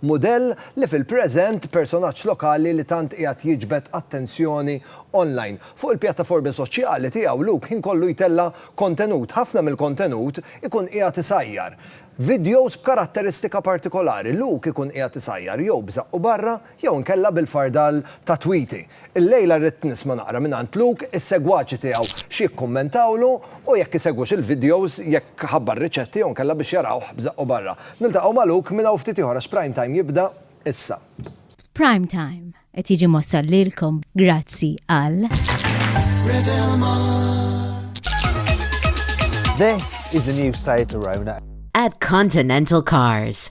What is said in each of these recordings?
Mudell li fil-preżent personaġġ lokali li tant qiegħed jiġbed attenzjoni online. Fuq il-pjattaformi soċjali tiegħu Luke ħin kollu jtella' kontenut. Ħafna mill-kontenut ikun qiegħed isajjar. Vidjows b'karatteristika partikolari, Luke ikun qiegħed isajjar jew b'żaqqu barra jew inkella bil-fardal ta' Tweety. Illejla rrid nisma' naqra mingħand Luke is-segwaċi tiegħu x'jikkummentawlu u jekk isegwux il-videos, jekk ħabbar riċetti jew inkella biex jarawh b'żaqqu barra. Niltaqgħu ma' Luke minn hawn ftit ieħor għax Prime Time jibda issa. Prime Time qed jiġi mwassal lilkom grazzi għal. Red Elmar. This is the new Seat Arona. At Continental Cars.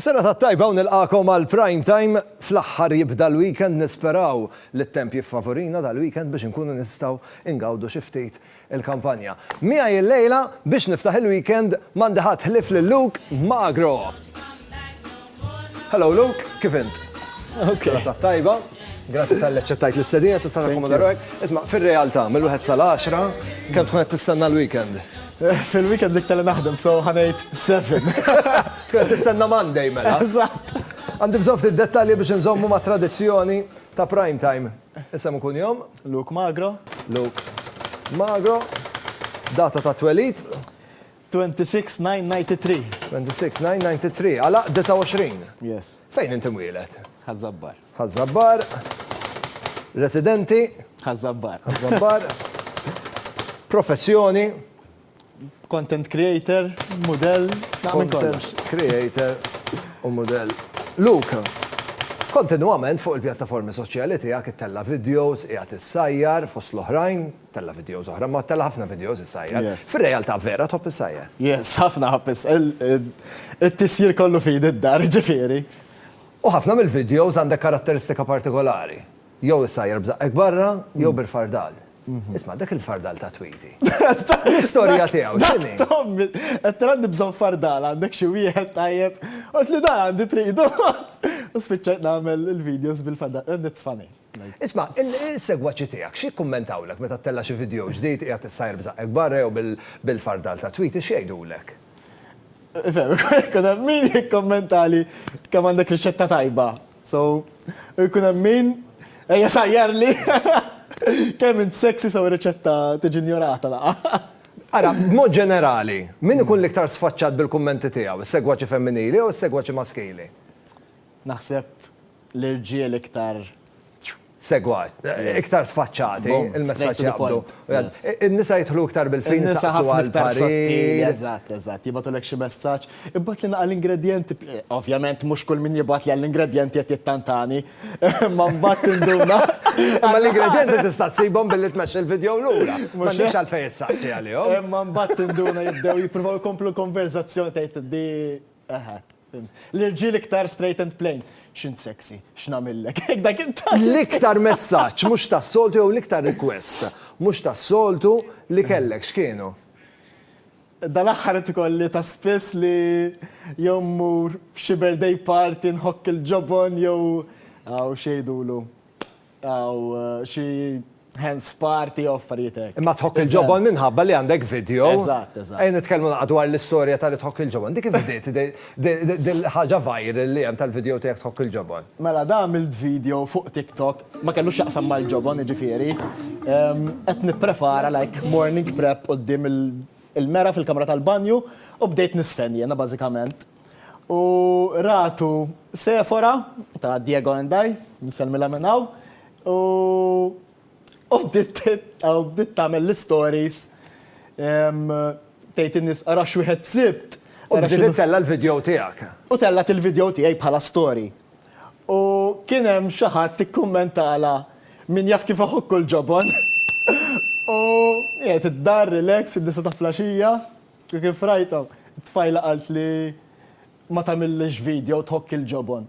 Is-serata t-tajba u nilqagħkom għal Prime Time. Fl-aħħar jibda l-weekend nisperaw li t-temp jiffavurina dal-weekend biex inkunu nistgħu ngawdu xi ftit il-kampanja. Miegħi illejla biex niftaħ il-weekend m'għandi ħadd ħlief lil Luke Magro. Hello Luke, kif int? Ok. Serata t-tajba. Grazzi tal-li aċċettajt l-istedina tista' takkomoda ruħek. Isma' fir-realtà mill-wieħed sal-għaxra kemm tkun qed tistenna l-weekend? Fil-weekend iktar li naħdem, so ħa ngħid seven. Tkun tistenna Monday mela. Eżatt. Għandi bżonn ftit dettalji biex inżommu ma' tradizzjoni ta' prime time. Isem u kunjom? Luke Magro. Luke Magro. Data ta' twelid? 26/9/93. 26/9/93. Għalaq 29? Yes. Fejn inti mwieled? Ħaż-Żabbar. Ħaż-Żabbar, residenti. Ħaż-Żabbar. Ħaż-Żabbar, professjoni. Content creator, mudell, naqra minn kollox. Content creator u mudell. Luke, kontinwament fuq il-pjattaformi soċjali tiegħek ittella' videos, qiegħed issajjar fost l-oħrajn, tella' videos oħra, ma tella' ħafna videos issajjar. Fir-realtà vera tħobb issajjar? Yes, ħafna ħobb issajjar. It-tisjir kollu f'idi d-dar, ġifieri. U ħafna mill-vidjows għandek karatteristika partikolari. Jew issajjar b'żaqqek barra, jew bil-fardal. Isma', dak il-fardal ta' Tweety. L-istorja tiegħu x'inhi? Dak Tommy! Għedtlu għandi bżonn fardal, għandek xi wieħed tajjeb? Għaltli dan għandi tridu! U spiċċajt nagħmel il-vidjows bil-fardal. Nitfa' ngħid. Isma', is-segwaċi tiegħek x'jikkummentawlek meta ttella' xi vidjow ġdid qiegħed issajjar b'żaqqek barra jew bil-fardal tat-tweetie x'jgħidulek? Ifhem, ikun hemm min jikkummentali kemm għandek riċetta tajba, so, u jkun hemm min, ejja sajjarli kemm int sexy so r-riċetta tiġi injorata laqgħa. Ara, b'mod ġenerali, min ikun l-iktar sfaċċat bil-kummenti tiegħu, is-segwaċi femminili jew is-segwaċi maskili? Naħseb l-irġiel iktar. Segwat. Iktar sfaċċati. Il-messaġġ jaqbdu. Straight to the point. Yes. In-nisa jidħlu iktar bil-fini jistaqsu għal. In-nisa ħafna iktar sottili. Eżatt, eżatt. Jibgħatulek xi messaġġ. Ibgħatlna għall-ingredjenti. Ovvjament mhux kull min jibgħatli għall-ingredjenti qed jittantani. Imma mbagħad tinduna. Imma l-ingredjenti tista' ssibhom billi tmexxi l-vidjow lura. M'għandekx għalfejn issaqsi għalihom. Imma mbagħad tinduna jibdew jippruvaw ikomplu l-konverżazzjoni tgħid di eħe. L-irġiel iktar straight and plain. X'int sexy, x'nagħmillek? Hekk dak it-tant. L-iktar messaġġ mhux tas-soltu jew l-iktar request mhux tas-soltu li kellek x'kienu? Dal-aħħar qed ikolli ta' spiss li jew mmur f'xi birthday party nħokk il-ġobon jew hawn x'jgħidulu. Aw xi hands party u affarijiet hekk. Imma tħokk il-ġobon minħabba li għandek video. Eżatt, eżatt. Ejja nitkellmu naqgħa dwar l-istorja ta' li tħokk il-ġobon. Dik kif bdiet dil-ħaġa viral li hemm tal-video tiegħek tħokk il-ġobon? Mela da għamilt video fuq TikTok, ma kellux x'jaqsam mal-ġobon jiġifieri. Qed nipprepara like morning prep quddiem il-mera fil-kamra tal-banju u bdejt nisfen jiena bażikament. U ratu Sephora ta' Diego and I, nsellmilha minn hawn, u u bdiet u bdiet tagħmel l-istories tgħid in-nies ara x'wieħed sibt. U bdiet ittella' l-vidjow tiegħek. U tellgħet il-vidjow tiegħi bħala story. U kien hemm xi ħadd ikkummentalha min jaf kif iħokku l-ġobon. U qiegħed id-dar relax fid-disgħa ta' flaxija. Kif rajtha, it-tfajla qalt li ma tagħmillhiex video tħokk il-ġobon.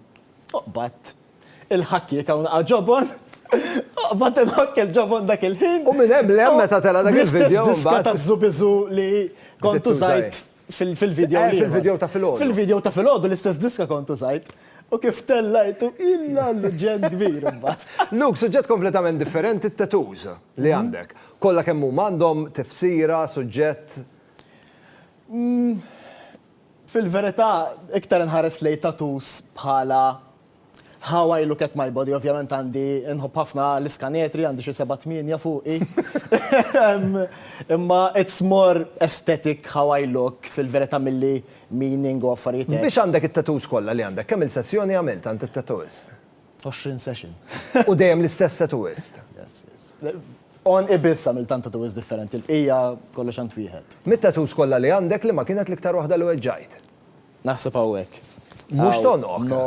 Oqbad. Il-ħakk jekk hawn laqgħa ġobon, oqbad inħokk il-ġobon dak il-ħin. U minn hemm l-hemm meta tela' dak il-video mbagħad. Bl-istess diska taż-żubiżu li kont użajt fil-video l-ieħor. Fil-video ta' filgħodu. Fil-video ta' filgħodu l-istess diska kont użajt. U kif tellajtu, illa l-ġen kbir imbagħad. Luke, suġġett kompletament differenti t-tattoos li għandek. Kollha kemm huma għandhom tifsira, suġġett? Fil-verità, iktar inħares lejn tattoos bħala how I look at my body. Ovvjament għandi, inħobb ħafna l-iskanetri, għandi xi seba' tmienja fuqi. Imma it's more aesthetic how I look fil-verità milli meaning u affarijiet hekk. Biex għandek it-tattoos kollha li għandek? Kemm-il sessjoni għamilt għand it-tattooist? 20 session. U dejjem l-istess tattooist? Yes, yes. On ibis għamil tant tattooist differenti, l-bqija kollox għand wieħed. Mit-tattoos kollha li għandek liema kienet l-iktar waħda li weġġajt? Naħseb hawnhekk. Mhux t'għonoq? No,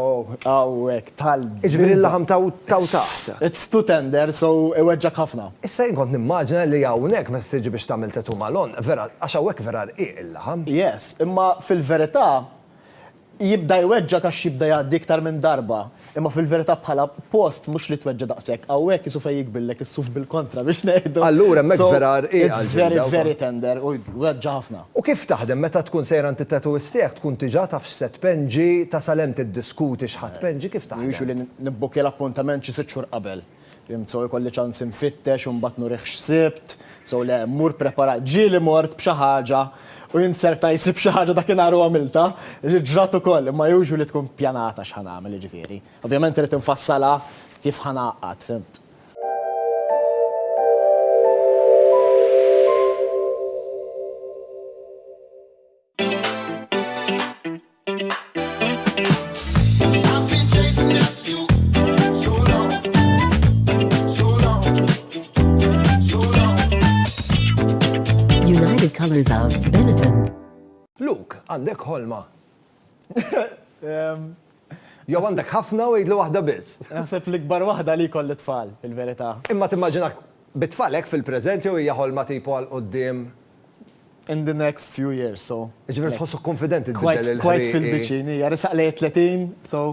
hawnhekk tal. Jiġifieri l-laħam t'hawn t'hawn taħt. It's too tender, so iweġġgħek ħafna. Issa jien kont nimmaġina li hawnhekk meta tiġi biex tagħmel tattoo mal-għonq, vera, għax hawnhekk vera rqiq il-laħam. Yes, imma fil-verità, Jibda jweġġgħek għax jibda jgħaddi iktar minn darba, imma fil-verità bħala post mhux li tweġġa' daqshekk, hawnhekk qisu fejn jikbillek is-suf bil-kontra biex ngħidu. Allura hemmhekk vera rqiqa l-ġilda. So, it's very, very tender u jweġġa' ħafna. U kif taħdem meta tkun sejra għand it-tattooist tiegħek, tkun diġà taf x'se tpenġi, tasal hemm tiddiskuti x'ħa tpenġi, kif taħdem? Usually nibbuki l-appuntament xi sitt xhur qabel. Fhimt sew ikolli ċans infittex u mbagħad nurih x'sibt, sew le mmur preparat. Ġieli mort b'xi ħaġa u jien serta jsib xi ħaġa dakinhar u għamiltha, li ġrat ukoll imma usually tkun pjanata x'ħa nagħmel jiġifieri. Ovvjament irid infassalha kif ħa ngħaqqad, fhimt? United Colors of Benetton. Luke, għandek ħolma. Jew għandek ħafna u jgħidlu waħda biss. Naħseb l-ikbar waħda li jkolli tfal, il-verità. Imma timmaġinak bit-tfalek fil-preżent jew hija ħolma tipo għal quddiem in the next few years, so. Ġifieri tħossok kunfidenti tbiddel il-ħin. Quite fil-biċin, hija resaq lejn 30, so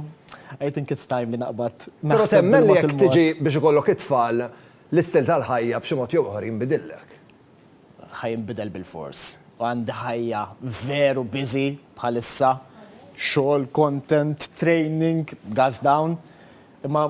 I think it's time li naqbad. Però temmen li jekk tiġi biex ikollok it-tfal, l-istil tal-ħajja b'xi mod jew ieħor jinbidillek? Ħa jinbidel bil-fors. U għandi ħajja veru busy bħalissa, xogħol, content, training, gas down, imma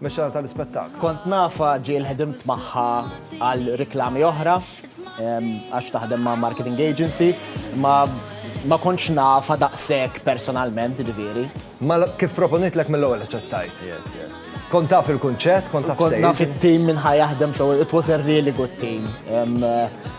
Mexxejja tal-ispettaklu. Kont nafha ġieli ħdimt magħha għal riklami oħra għax taħdem ma' marketing agency, imma ma kontx nafha daqshekk personalment, ġifieri. Ma kif proponitlek mill-ewwel aċċettajt. Yes, yes. Kont taf il-kunċett, kont taf Kont naf it-tim minn ħajaħdem, so it was a really good team. Um,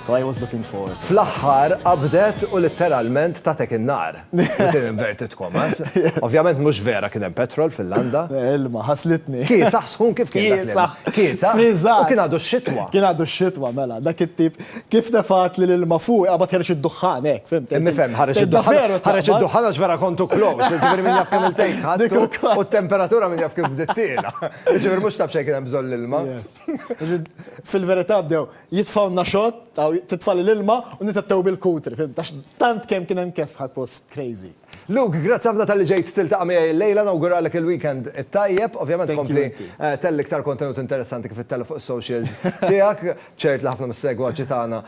so I was looking forward. Fl-aħħar qabdet u litteralment tatek in-nar. Within inverted commas. Ovvjament mhux vera kien hemm petrol fil-landa. Ilma, ħaslitni. Kiesaħ sħun kif kien dak l-ilma? Kiesaħ. Kiesaħ. Friżat. U kien għadu x-xitwa. Kien għadu x-xitwa, mela. Dak it-tip kif tefgħat li l-ilma fuqi qabad ħareġ id-duħħan hekk, fimt? Nifhem, ħareġ id-duħħan. Ħareġ id-duħħan għax vera kontu close. Ġifieri min jaf kemm il-tejk ħadtu u t-temperatura min jaf kif bdiet tiela. Ġifieri mhux taf xejn kien hemm bżonn l-ilma. Yes. Fil-verità bdew Jitfgħulna xott, aw titfgħali l-ilma u nitettew bil-kutri, fhimt, għax tant kemm kien hemm kesħa l-post crazy. Luke, grazzi ħafna talli ġejt tiltaqa' miegħi illejla, nawguralek il-weekend it-tajjeb. Ovvjament kompli telli iktar kontenut interessanti kif ittella' fuq is-socials tiegħek. Ċert li ħafna mis-segwaċi tagħna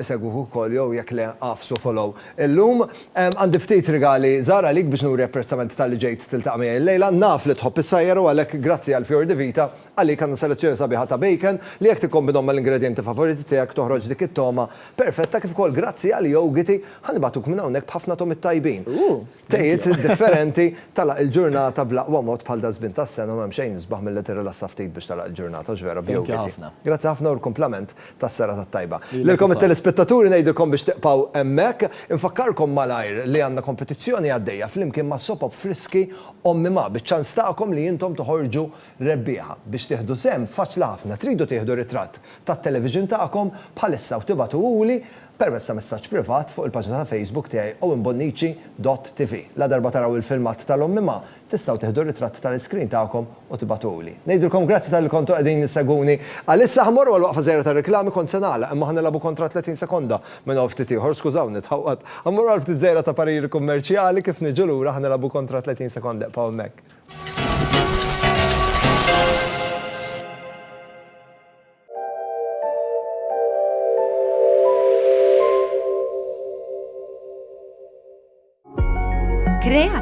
isegwuh ukoll jew jekk le agħfsu follow illum. Għandi ftit rigali żgħar għalik biex nuri apprezzament talli ġejt tiltaqa' miegħi illejla. Naf li tħobb is-sajjar u għalhekk grazzi għall-Fior di Vita. Għalik għandna selezzjoni sabiħa ta' bacon li jekk tikkombinhom mal-ingredjenti favoriti tiegħek toħroġ dik it-togħma perfetta kif ukoll grazzi għal Yogiti ħa nibagħtuk minn hawnhekk b'ħafna togħmiet tajbin. Tejiet differenti, tagħlaq il-ġurnata bl-aqwa mod bħal daż-żmien tas-sena u m'hemm xejn isbaħ milli tirrilassa ftit biex tagħlaq il-ġurnata hux vera b'Yogiti. Grazzi ħafna u l-kumplament tas-serata t-tajba. Lilkom it-telespettaturi ngħidilkom biex tibqgħu hemmhekk. Infakkarkom malajr li għandna kompetizzjoni għaddejja flimkien ma' Sopop Friski Ommi Ma' biċ-ċans tagħkom li intom toħorġu Rebbieħa, Biex tieħdu sehem, faċli ħafna, tridu tieħdu ritratt tat-television tagħkom bħalissa u tibagħtuhuli permezz ta' messaġġ privat fuq il-paġna ta' Facebook tiegħi owenbonnici.tv. Ladarba taraw il-filmat tal-ommima, tistgħu tieħdu ritratt tal-iscreen tagħkom u tibagħtuhuli. Ngħidilkom grazzi talli kontu qegħdin issegwuni. Għalissa ħa mmorru għal waqfa żgħira tar-riklami, kont se nagħlaq imma ħa nilgħabu kontra 30 sekonda minn hawn ftit ieħor, skużawni tħawwad. Ħa mmorru għal ftit żgħira ta' pariri kummerċjali, kif niġu lura ħa nilgħabu kontra 30 sekonda, ibqgħu hemmhekk.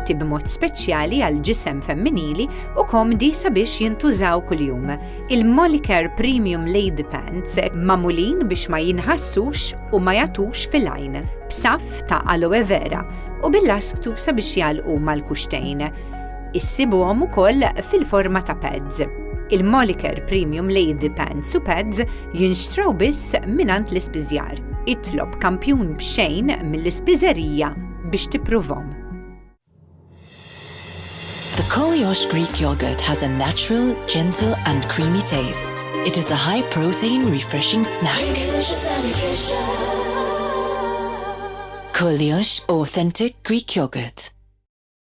kreati b'mod speċjali għal ġisem femminili u komdi sabiex jintużaw kuljum. Il-Molicare Premium Lady Pants mamulin biex ma jinħassux u ma jatux fil-għajn, b'saf ta' aloe vera u bil-lasktu sabiex jalqu mal-kuxtejn. Issibuhom ukoll fil-forma ta' pads. Il-Moliker Premium Lady Pants u Pads jinxtraw biss mingħand l-ispiżjar. Itlob kampjun b'xejn mill-ispiżerija biex tippruvhom. The Koliosh Greek Yogurt has a natural, gentle and creamy taste. It is a high protein refreshing snack. Koliosh Authentic Greek Yogurt.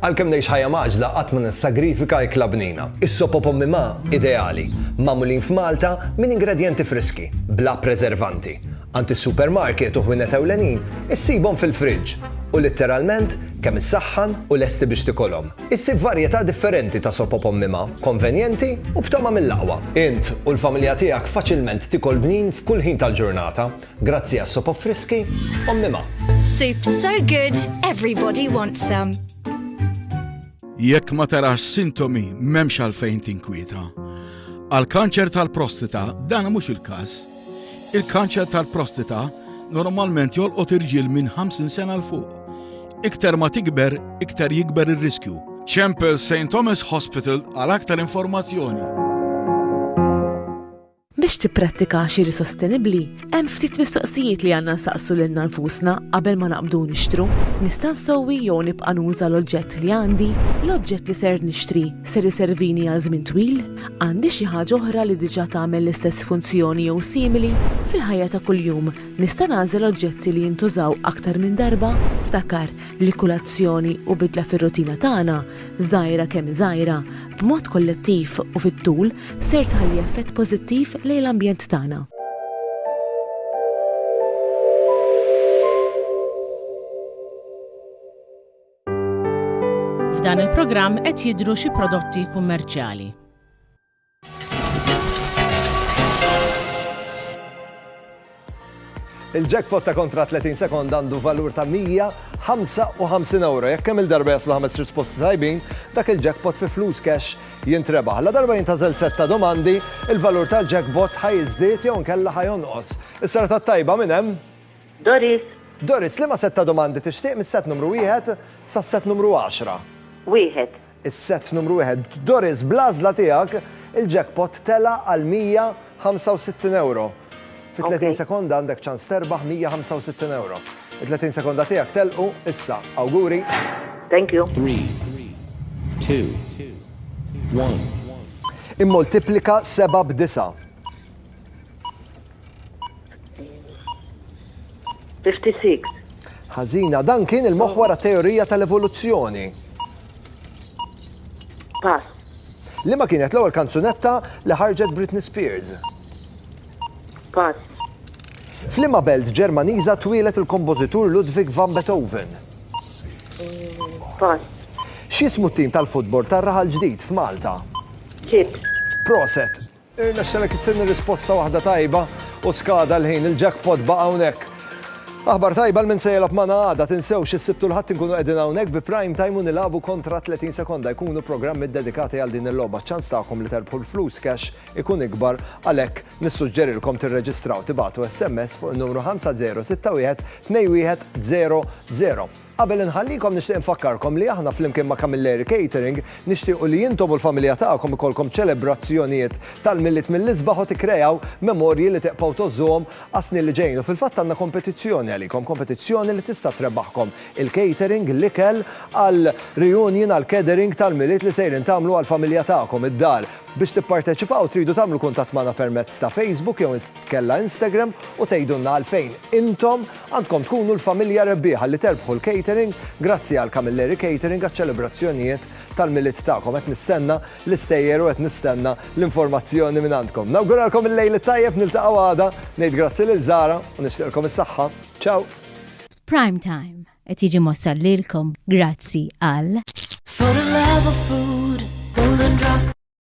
Għalkemm ngħix ħajja mgħaġġla qatt ma nissagrifika ikla bnina. Is-sop o pommi ma, ideali, magħmulin f'Malta minn ingredjenti friski, bla preservanti. Għand is-supermarket u ħwienet ewlenin issibhom fil-friġġ u litteralment kemm issaħħan u lesti biex tikolhom. Issib varjetà differenti ta' sop o pommi ma, konvenjenti u b'togħma mill-aqwa. Int u l-familja tiegħek faċilment tikol bnin f'kull ħin tal-ġurnata. Grazzi għas-sopop friski, ommi ma. Soups so good, everybody wants some. Jekk ma tarax sintomi m'hemmx għalfejn tinkwieta. Għal kanċer tal-prostita dan mhux il-każ. Il-kanċer tal-prostita normalment jolqot irġiel minn 50 sena l fuq. Iktar ma tikber, iktar jikber ir-riskju. Chempel St. Thomas Hospital għal aktar informazzjoni. Biex tipprattika għaxiri sostenibbli, hemm ftit mistoqsijiet li għandna nsaqsu lilna nfusna qabel ma naqbdu nixtru, Nista' nsewwi jew nibqa' nuża l-oġġett li għandi? L-oġġett li ser nixtri ser iservini għal żmien twil? Għandi xi ħaġa oħra li diġà tagħmel l-istess funzjoni jew simili? Fil-ħajja ta' kuljum, nista' nagħżel oġġetti li jintużaw aktar minn darba? Ftakar li kull azzjoni u bidla fir-rutina tagħna, żgħira kemm hi żgħira, b'mod kollettiv u fit-tul ser tħalli effett pożittiv lejn l-ambjent tagħna. F'dan il-programm qed jidhru xi prodotti kummerċjali. Il-jackpot ta' kontra 30 sekonda għandu valur ta' 155 euro. Jekk kemm il-darba jaslu ħames risposti tajbin, dak il-jackpot fi flus cash jintrebaħ. La darba jintażel set ta' domandi, il-valur tal-jackpot ħa jiżdied jew inkella ħa jonqos. Is-serata t-tajba minn hemm? Doris. Doris, liema set ta' domandi tixtieq mis-set numru wieħed sas-set numru għaxra? Wieħed. Is-sett numru wieħed Doris bl-għażla tiegħek il-jackpot tela' għal 165 ewro. Fi 30 sekonda għandek ċans terbaħ 165 ewro. It-30 sekonda tiegħek telqu issa. Awguri! Thank you. Three, two, one. Immultiplika seba' b'disa'. 56. Ħażina, dan kien il-moħħ wara teorija tal-evoluzzjoni. Pass. Li ma kienet l-ewwel kanzunetta li ħarġet Britney Spears. Pass. Flima belt Ġermaniża twielet il-kompożitur Ludwig van Beethoven. Pass. X'ismu t-tim tal-futbol tar-raħal ġdid f'Malta? Ċip. Proset. Irnexxelek ittini risposta waħda tajba u skada l-ħin, il-jackpot baqa' hawnhekk. Aħbar tajba l-min se jelab magħna għada, tinsewx is-Sibtu l-Ħadd inkunu qegħdin hawnhekk bi Prime Time u nilagħbu kontra 30 sekonda, jkunu programmi ddedikati għal din il-logħba. Ċ-ċans tagħkom li terbħu l-flus cash ikun ikbar, għalhekk nissuġġerilkom tirreġistraw tibagħtu SMS fuq in-numru 5061 2100. Qabel inħallikom nixtieq infakkarkom li aħna flimkien ma' Camilleri Catering nixtiequ li intom u l-familja tagħkom ikollkom ċelebrazzjonijiet tal-Milied mill-isbaħ u tikkreaw memorji li tibqgħu tgħożżuhom għas-snin li ġejjin u fil-fatt għandna kompetizzjoni għalikom, kompetizzjoni li tista' trebaħkom il-catering, l-ikel għal reunion għal catering tal-Milied li sejrin tagħmlu għall-familja tagħkom id-dar. Biex tipparteċipaw tridu tagħmlu kuntatt magħna permezz ta' Facebook jew Kellha Instagram u tgħidulna għalfejn intom għandkom tkunu l-familja rebbieħa li terbħu l-catering grazzi għal Camilleri Catering għaċ-ċelebrazzjonijiet tal-Milied tagħkom. Qed nistenna l-istejjer u qed nistenna l-informazzjoni minn għandkom. Nawguralkom il-lejl it-tajjeb, niltaqgħu għada, ngħid grazzi lil Zara u nixtieqlkom is-saħħa. Ciao! Prime Time qed jiġi mwassal lilkom grazzi għal.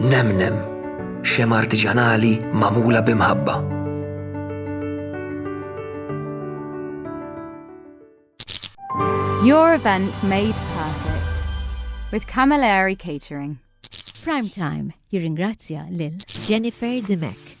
Nemnem, xema artiġanali magħmula b'imħabba. Your event made perfect with Camilleri Catering. Prime Time jirringrazzja lil Jennifer Dimek.